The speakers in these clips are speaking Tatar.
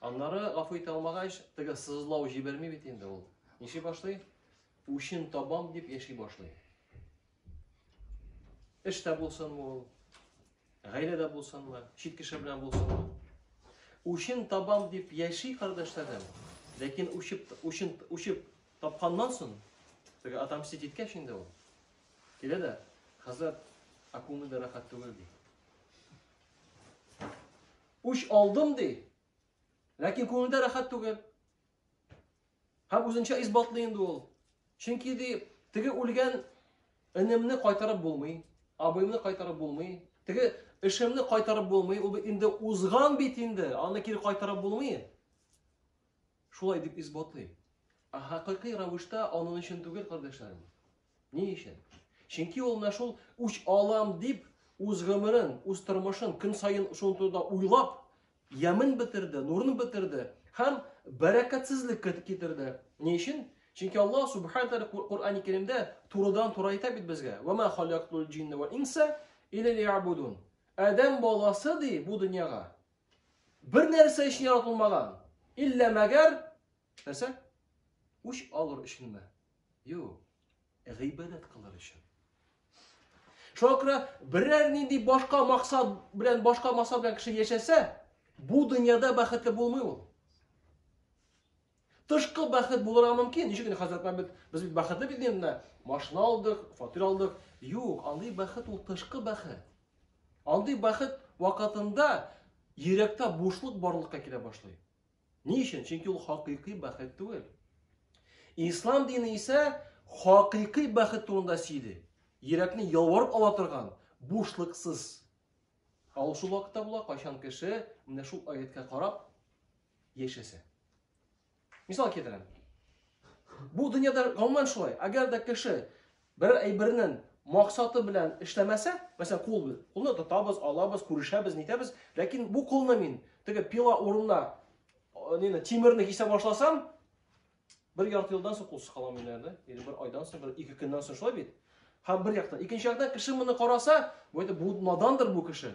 Аннары гафу итә алмагач, теге сызлау җибәрми бит инде ул. Ниши башлый? Үчен табам дип яши башлый. Эш тә булсынмы ул? Гаилә дә булсынмы? Чит кеше белән булсынмы? Үчен табам дип яши кардәшләрем. Ләкин үчеп, үчен, үчеп тапканнан соң, теге отомстить иткәч инде ул. Килә дә, хәзрәт, ә күңел дә рәхәт түгел ди. Үч алдым ди. Ләкин күңелдә рәхәт түгел. Һәм үзенчә исбатлый инде ул. Чөнки ди, теге үлгән энемне кайтарып булмый, абыйымны кайтарып булмый, теге эшемне кайтарып булмый, ул инде узган бит инде, аны кире кайтарып булмый. Шулай дип исбатлый. Ә хакыйкый рәвештә аның өчен түгел, кардәшләрем. Ни өчен? Чөнки ул менә шул үч алам дип үз гомерен, үз тормышын көн саен шул турыда уйлап, ямен бетерде, нурын бетерде һәм бәрәкәтсезлек китерде. Ни өчен? Чөнки Алла субхана тәгалә Коръәни Кәримдә турыдан туры әйтә бит безгә: "Ва ма халактул джинна вал инса илля лиябудун". Адәм баласы ди бу дөньяга бер нәрсә өчен яратылмаган, илля мәгәр Нәрсә? Үч алыр өченме? Юк, гыйбадәт кылыр өчен. Шуңа күрә берәр нинди башка максат белән, башка максат белән кеше яшәсә, бу дөньяда бәхетле булмый ул. Тышкы бәхет булырга мөмкин. Ничек инде хәзрәт Мәмбет, без бит бәхетле бит инде. Машина алдык, фатир алдык. Юк, андый бәхет ул тышкы бәхет. Андый бәхет вакытында йөрәктә бушлык барлыкка килә башлый. Ни өчен? Чөнки ул хакыйкый бәхет түгел. Ислам дине исә хакыйкый бәхет турында сөйли. Йөрәкне ялварып ала торган, бушлыксыз. Ә ул шул вакытта була, кайчан кеше менә шул аяткә карап яшәсә. Мисал китерәм. Бу дөньяда гомумән шулай. Әгәр дә кеше Бер әйбернен максаты белән эшләмәсә, мәсәлән, кул бит. Кулны тотабыз, алабыз, күрешәбез, нитәбез. Ләкин бу кулны мин теге пила урынына нина тимерне кисә башласам, бер ярты елдан соң кулсыз калам мин әле. Или бер айдан соң, бер ике көннән соң шулай бит. Һәм бер яктан, икенче яктан кеше моны караса, бу бу надандыр бу кеше.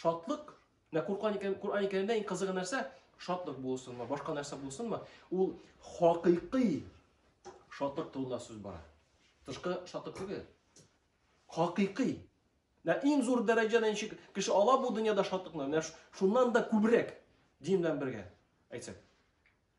Шатлык, менә Коръән Коръән Кәримдә иң кызыгы нәрсә? Шатлык булсынмы, башка нәрсә булсынмы, ул хакыйкый шатлык турында сүз бара. Тышкы шатлык түгел. Хакыйкый. Менә иң зур дәрәҗәдә ничек кеше ала бу дөньяда шатлыкны, менә шуннан да күбрәк дин белән бергә әйтсәк.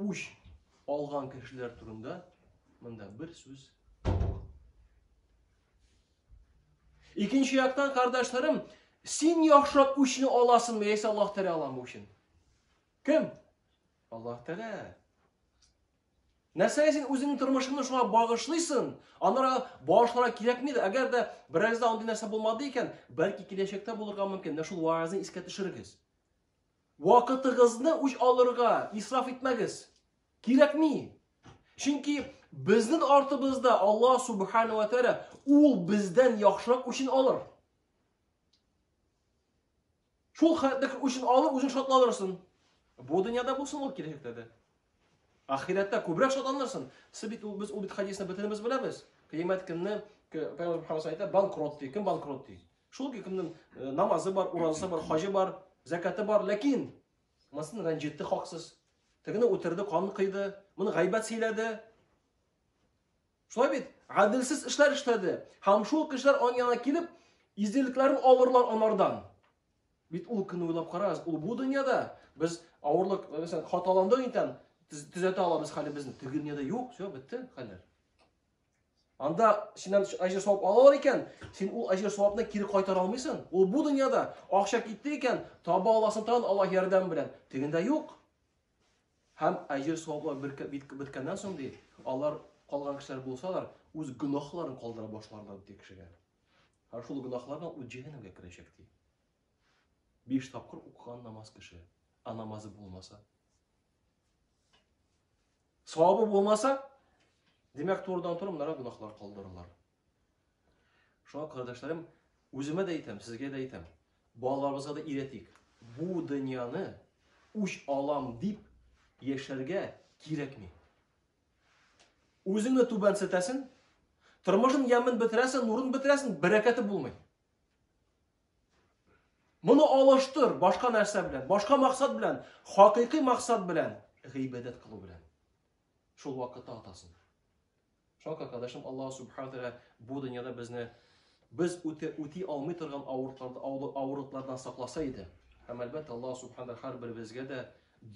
Үч алган кешеләр турында монда бер сүз Икенче яктан, кардәшләрем, син яхшырак үчне аласыңмы, яисә Аллаһ Тәгалә аламы өчен? Кем? Аллаһ Тәгалә. Нәрсәгә син үзеңнең тормышыңны шуңа багышлыйсың? Анара багышларга кирәкми дә. Әгәр дә берәрдә андый нәрсә булмады икән, бәлки киләчәктә булырга мөмкин. Менә шул ваазны искә төшерегез. Вакытыгызны үч алырга исраф итмәгез. Кирәкми. Чөнки безнең артыбызда Алла Субхану ва Тәгалә ул бездән яхшырак үчен алыр. Шул хәтлек үчен алыр, үзең шатланырсың. Бу дөньяда булсын ул киләчәктә дә. Ахирәттә күбрәк шатланырсың. Сез бит ул без ул бит хадисны бөтенебез беләбез. Кыямәт көнне Пәйгамбер Мөхәммәд әйтә, банкрот ди, кем банкрот ди? Шул кемнең э, намазы бар, уразасы бар, хаҗы бар, закаты бар, ләкин масын рәнҗетте хаксыз. Тегене үтерде, кан кыйды, моны гайбәт сөйләде. Шулай бит, гаделсез эшләр эшләде. Һәм шул кешеләр аның янына килеп, изделекләрен алырлар анардан. Бит ул көнне уйлап карагыз, ул бу дөньяда без авырлык, мәсәлән, хаталанды икән, төзәтә алабыз хәлебезне. Теге дөньяда юк, все, бетте хәлләр. Анда синнән әҗер савап алалар икән, син ул әҗер савапны кире кайтара алмыйсың. Ул бу дөньяда акча китте икән, таба аласың тагын Аллаһ ярдәм белән. Тегендә юк. Һәм әҗер саваплар беткәннән соң ди, алар калган кешеләр булсалар, үз гөнаһларын калдыра башларлар ди кешегә. Һәм шул гөнаһлардан ул җәһәннәмгә керәчәк ди. Биш тапкыр укыган намаз кеше, а намазы булмаса. Савабы булмаса, димәк, турыдан туры монара гөнаһлар калдырылыр. Шуңа, кардәшләрем, үземә дә әйтәм, сезгә дә әйтәм, балаларыбызга да өйрәтик. Бу дөньяны үч алам дип яшәргә кирәкми. Үзеңне түбәнсетәсен, тормышын ямен бетерәсен, нурын бетерәсен, бәрәкәте булмый. Моны алыштыр башка нәрсә белән, башка максат белән, хакыйкый максат белән, гыйбадәт кылу белән. Шул вакытта атасың. Шуңа күрә кардәшем Аллаһ субхана тәгалә бу дөньяда безне без үтә үти алмый торган авырлыклардан сакласа иде. Һәм әлбәттә Аллаһ субхана тәгалә һәрберебезгә дә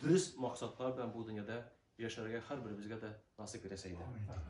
дөрес максатлар белән бу дөньяда яшәргә һәрберебезгә дә насыйп итәсе иде.